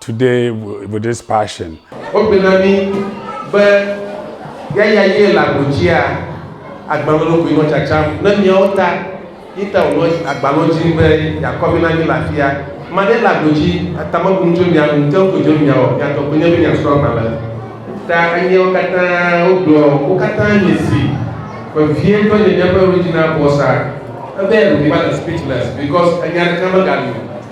Today with this passion. Wogblɔ na mí be yaya ye le agbo dzia agbalẽ lɔ koe nɔ tsatsam ne míawo ta, yi ta wònɔ agba lɔ dzi be yeakɔ mí na mí le afia. Ame aɖe le agbo dzi ta mebu nu tso mía ŋu, ke ŋko dzo mía o, mía tɔ koe nye be míasrɔ̃ agbalẽ. Ta anyiawo katã wogblɔ wo katã nye si vevietɔ nye míaƒe Regina Bossa. Ebe eyaɖokuiva le speechless because enya ɖeka megali o.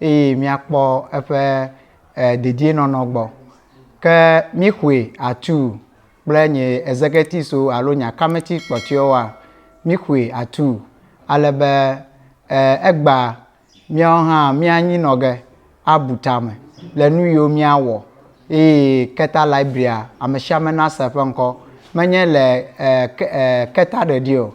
eye míakpɔ eƒe dedienɔnɔ gbɔ. Ke míxɔe atuu kple nye ezeketiso alo nye akameti kpɔtɔewoa? Míxɔe atuu ale be egba míawo hã míanyi nɔ ge abu tame le nu yiwo míawɔ eye Keta Library-a, amesiame nase eƒe ŋkɔ. Menye le keta ɖeɖi o,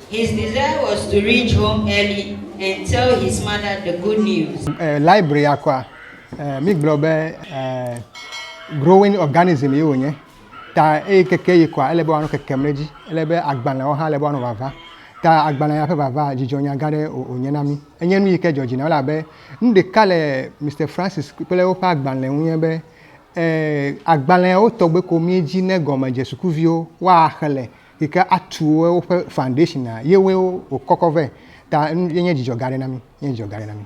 His desire was to reach home early and tell his mother the good news. Library ya kɔa, mi gblɔ be growing organism ye wònye, ta eyi keke yi kɔa, ele be woanɔ kekem ɖe edzi. Ele be agbalẽwo hã, ele be woanɔ vava. Ta agbalẽ ya ƒe vava, dzidzɔnya gã aɖe wònye na mi. Enye nu yi ke dzɔ dzi nam elabe nu ɖeka le Mister Francis kple woƒe agbalẽ ŋu nye be, agbalẽwo tɔgbe ko míedzi ne gɔme dze sukuviwo, woaxlẽ. yi ke atu woƒe foundation ye woe wokɔkɔ vɛ. Ta enye dzidzɔ gã aɖe na mí. Enye dzidzɔ gã aɖe na mí.